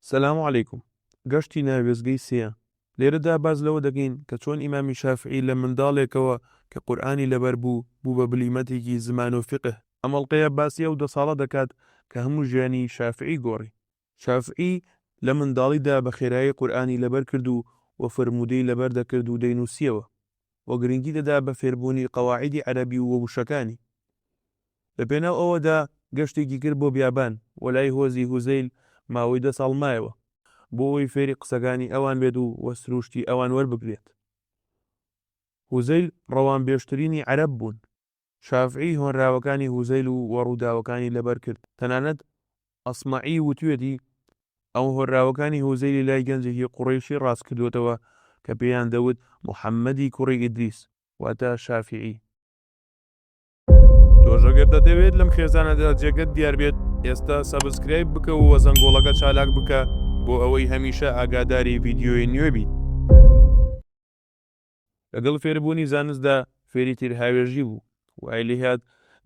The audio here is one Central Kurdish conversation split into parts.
سلام علیکم گەشتی ناو وێستگەی سێیە لێرەدا باس لەوە دەکەین کە چۆن ئیمامی شافعی لە منداڵێکەوە کە قورئانی لەبەر بوو بوو بە بلیمەتێکی زمان و فیقه. ئەم ئەڵقەیە باسی ئەو دە ساڵە دەکات کە هەموو ژیانی شافعی گۆڕی. شافعی لە منداڵیدا بە خێرایی قورئانی لەبەر کرد و وە فەرموودەی لەبەر دەکرد و دەینووسیەوە. و گرنگی دەدا بە فێربوونی قەواعیدی عەرەبی و ووشەکانی. لە پێناو ئەوەدا گەشتێکی کرد بۆ بیابان و لای هۆزی هوزەیل ماوەی دە ساڵ مایەوە بۆ ئەوەی فێری قسەکانی ئەوان بێت و و سرووشتی ئەوان وەربگرێت. هوزەیل ڕەوانبێژترینی عەرەب بوون. شافعی هۆنراوەکانی هوزەیل و و ڕووداوەکانی لەبەر کرد، تەنانەت ئەسمەعی وتویەتی، ئەو هۆنراوەکانی هوزەیلی لای گەنجێکی قوڕەیشی ڕاست کردوەتەوە کە پێیان دەوت محەمەدی کوڕی ئیدریس، واتە شافعی. تۆش ئەگەر دەتەوێت لەم خێزانەدا جێگەت دیار بێت ئێستا سەبسکرایب بکە و زەنگۆڵەکە چالاک بکە بۆ ئەوەی هەمیشە ئاگاداری ڤیدیۆی نوێ بیت. لەگەڵ فێربوونی زانستدا فێری تیرهاوێژی بوو، وای لێهات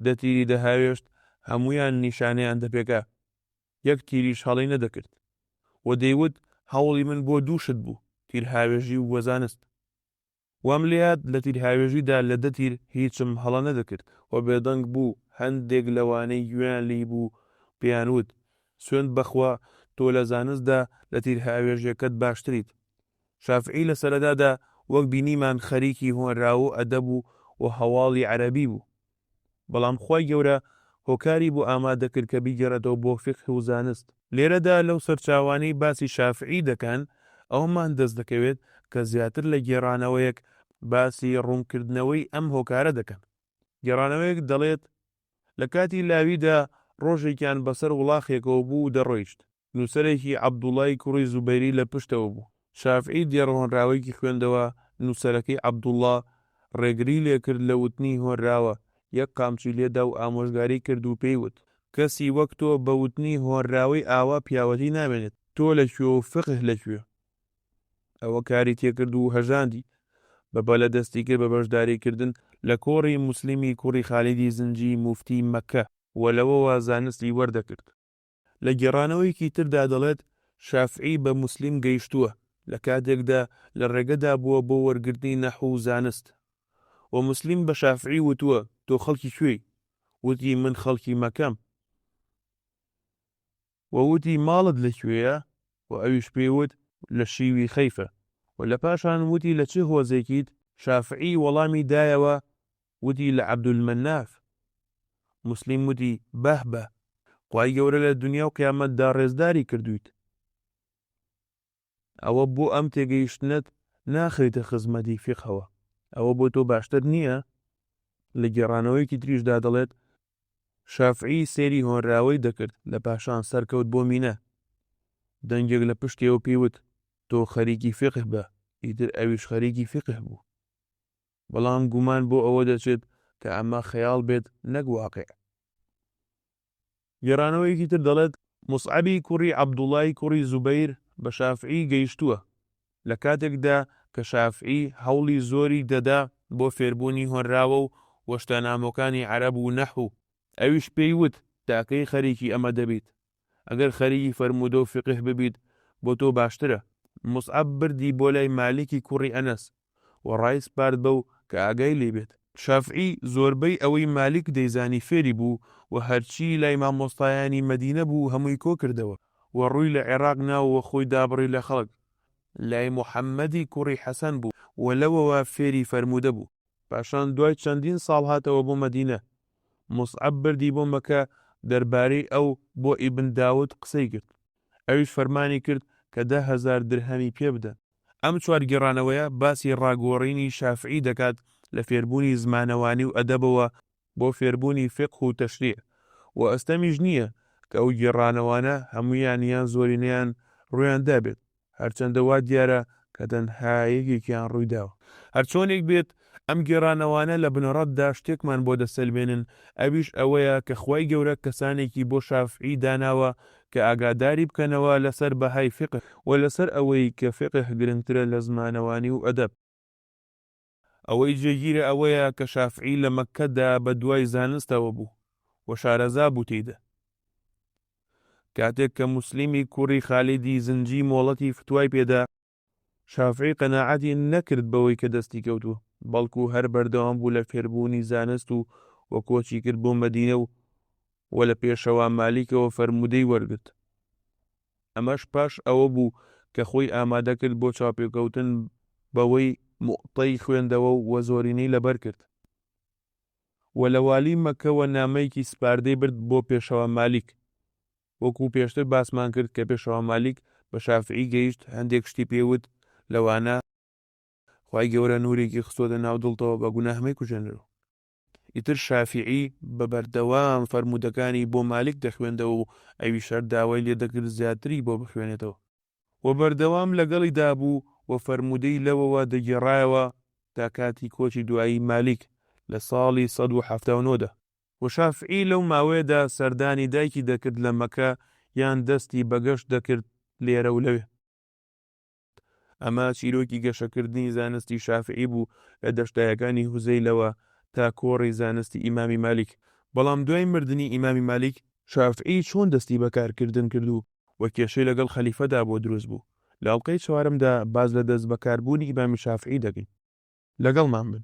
دە تیری دەهاوێشت، هەموویان نیشانەیان دەپێکا، یەک تیریش هەڵەی نەدەکرد و دەیوت هەوڵی من بۆ دوو شت بوو، تیرهاوێژی و زانست. وام لێهات لە تیرهاوێژیدا لە دە تیر هیچم هەڵە نەدەکرد و بێدەنگ بوو، هەندێک لەوانەی گوێیان لێی بوو پێیان وت، سوێند بەخوا تۆ لە زانستدا لە تیرهاوێژێکەت باشتریت. شافعی لە سەرەتادا وەک بینیمان خەریکی هۆنراوەو ئەدەب و و هەواڵی عەرەبی بوو. بەڵام خوای گەورە هۆکاری بۆ ئامادەکرد کە بیگەڕێتەوە بۆ فیقه و زانست. لێرەدا لەو سەرچاوانەی باسی شافعی دەکەن ئەوەمان دەست دەکەوێت کە زیاتر لە گێڕانەوەیەک باسی ڕوونکردنەوەی ئەم هۆکارە دەکەن. گێڕانەوەیەک دەڵێت، لە کاتی لاویدا ڕۆژێکیان بەسەر وڵاخێکەوە بوو و دەڕۆیشت. نووسەرێکی عەبدوڵڵای کوڕی زوبەیری لە پشتەوە بوو. شافعی دێڕ هۆنراوەیەکی خوێندەوە، نووسەرەکەی عەبدوڵڵا ڕێگری لێ کرد لە وتنی هۆنراوە، یەک قامچی لێ دا و ئامۆژگاری کرد و پێی وت، کەسی وەک تۆ بە وتنی هۆنراوەی ئاوا پیاوەتی نامێنێت. تۆ لە کوێ و فقه لە کوێ؟ ئەوە کاری تێ کرد و هەژاندی. بە بەلە دەستی کرد بە بەشداری کردن لە کۆڕی موسلیمی کوڕی خالیدی زنجی موفتی مەککە و لەوەوە زانستی وەردەگرت. لە گێڕانەوەیەکی تردا دەڵێت، شافعی بە موسلیم گەیشتووە، لە کاتێکدا لە ڕێگەدا بووە بۆ وەرگرتنی نەحو و زانست. وە موسلیم بە شافعی وتووە، تۆ خەڵکی کوێی؟ وتی، من خەڵکی مەکەم. وە وتی، ماڵت لە کوێیە؟ وە ئەویش پێی وت، لە شیوی خەیفە. وە لە پاشان وتی، لە چ هۆزێکیت؟ شافعی وەڵامی دایەوە، وتی لە عبدالمناف موسلیم وتی بەه بەه خوای گەورە لە دونیا و قیامەت دا ڕێزداری کردوویت ئەوە بۆ ئەم تێگەیشتنەت ناخریتە خزمەتی فیقهەوە ئەوە بۆ تۆ باشتر نییە لە گێڕانەوەیەکی تریش دا دەڵێت شافعی سەیری هۆنراوەی دەکرد لە پاشان سەرکەوت بۆ مینە دەنگێک لە پشتێوە پێی وت تۆ خەریکی فیقه بە ئیتر ئەویش خەریکی فیقه بوو بەڵام گومان بۆ ئەوە دەچێت کە ئەمە خەیاڵ بێت نەک واقع. گێڕانەوەیەکی تر دەڵێت، موسعەبی کوڕی عەبدوڵای کوڕی زوبەیر بە شافعی گەیشتووە، لە کاتێکدا کە شافعی هەوڵی زۆری دەدا بۆ فێربوونی هۆنراوە و وەشتانامۆکانی عەرەب و نەحو، ئەویش پێی وت، تاکەی خەریکی ئەمە دەبیت؟ ئەگەر خەریکی فەرموودە و فیقه ببیت بۆ تۆ باشترە، موسعەب بردی بۆ لای مالیکی کوڕی ئەنەس و ڕایسپارد بەو کە ئاگای لێی بێت. شافعی زۆربەی ئەوەی مالیک دەیزانی فێری بوو و هەرچی لای مامۆستایانی مەدینە بوو هەمووی کۆ کردەوە و ڕووی لە عێراق ناو و خۆی دابڕی لە خەڵک لای موحەممەدی کوڕی حەسەن بوو و لەوەوە فێری فەرموودە بوو. پاشان دوای چەندین ساڵ هاتەوە بۆ مەدینە. موسعەب بردی بۆ مەکە دەربارەی ئەو بۆ ئیبن داود قسەی کرد. ئەویش فەرمانی کرد کە دە هەزار درهەمی پێ بدەن. ئەم چوار گێڕانەوەیە باسی ڕاگۆڕینی شافعی دەکات لە فێربوونی زمانەوانی و ئەدەبەوە بۆ فێربوونی فیقه و تەشریع و ئەستەمیش نییە کە ئەو گێڕانەوانە هەموویان یان زۆرینەیان ڕوویان دابێت، هەرچەندە وا دیارە کە تەنها یەکێکیان ڕووی داوە. هەرچۆنێک بێت، ئەم گێڕانەوانە لە بنەڕەتدا شتێکمان بۆ دەسەلمێنن، ئەویش ئەوەیە کە خوای گەورە کەسانێکی بۆ شافعی داناوە کە ئاگاداری بکەنەوە لەسەر بەهای فیقه و لەسەر ئەوەی کە فیقه گرنگترە لە زمانەوانی و ئەدەب. ئەوەی جێگیرە ئەوەیە کە شافعی لە مەککەدا بە دوای زانستەوە بوو و شارەزا بوو تێیدا. کاتێک کە موسلیمی کوڕی خالیدی زنجی مۆڵەتی فتوای پێ دا، شافعی قەناعەتی نەکرد بەوەی کە دەستی کەوتووە، بەڵکو هەر بەردەوام بوو لە فێربوونی زانست و و کۆچی کرد بۆ مەدینە و و لە پێشەوا مالیکەوە فەرموودەی وەرگرت. ئەمەش پاش ئەوە بوو کە خۆی ئامادە کرد بۆ چاوپێکەوتن بەوەی موتەی خوێندەوە و زۆرینەی لەبەر کرد و لە والی مەککەوە نامەیەکی سپاردەی برد بۆ پێشەوا مالیک وەکو پێشتر باسمان کرد کە پێشەوا مالیک بە شافعی گەیشت هەندێک شتی پێی وت لەوانە خوای گەورە نورێکی خستۆتە ناو دڵتەوە بە گوناه مەیکوژێنەرەوە. ئیتر شافیعی بە بەردەوام فەرموودەکانی بۆ مالیک دەخوێندەوە و ئەویش هەر داوای لێ دەکرد زیاتری بۆ بخوێنێتەوە و بەردەوام لەگەڵیدا بوو و فەرموودەی لەوەوە دەگێڕایەوە تا کاتی کۆچی دوایی مالیک لە ساڵی سەد و حەفتا و نۆ دا. و شافیعی لەو ماوەیەدا سەردانی دایکی دەکرد لە مەککە یان دەستی بە گەشت دەکرد لێرە و لەوێ. ئەمە چیرۆکی گەشەکردنی زانستی شافعی بوو لە دەشتایەکانی هوزەیلەوە تا کۆڕی زانستی ئیمامی مالیک. بەڵام دوای مردنی ئیمامی مالیک، شافعی چۆن دەستی بە کارکردن کرد و و کێشەی لەگەڵ خەلیفەدا بۆ دروست بوو؟ لە ئەڵقەی چوارەمدا باس لە دەستبەکاربوونی ئیمامی شافعی دەکەین. لەگەڵمان بن.